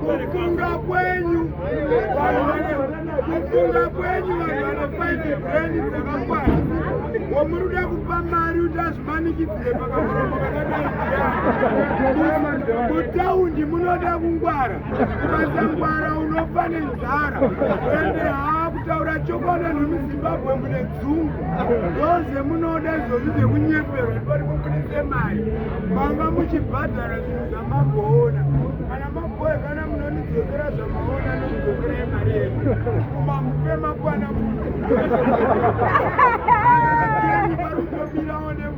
kufunga kwenyu kufunga kwenyu vanhu vanofaite breni dzakakwana womuri uda kupa mari kuti azvimanikidzire pakakutaundi munoda kungwara Mazangwara unofa nenzara ende haakutaura chokwadi anhu muzimbabwe mune dzungu ndoze munoda izvozvi zvekunyeperwa ndipati mubudise mari manga muchibhadhara zvinhu zvamamboona kana maboe kana munonidzokera zvamaona nonidzokera yemari yedu kuma mupe makwana muno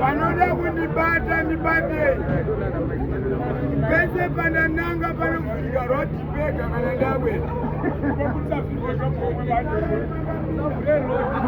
vanoda kundibata ndibatei pese pandananga panofika rotipega kana ndawe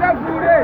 Tavure!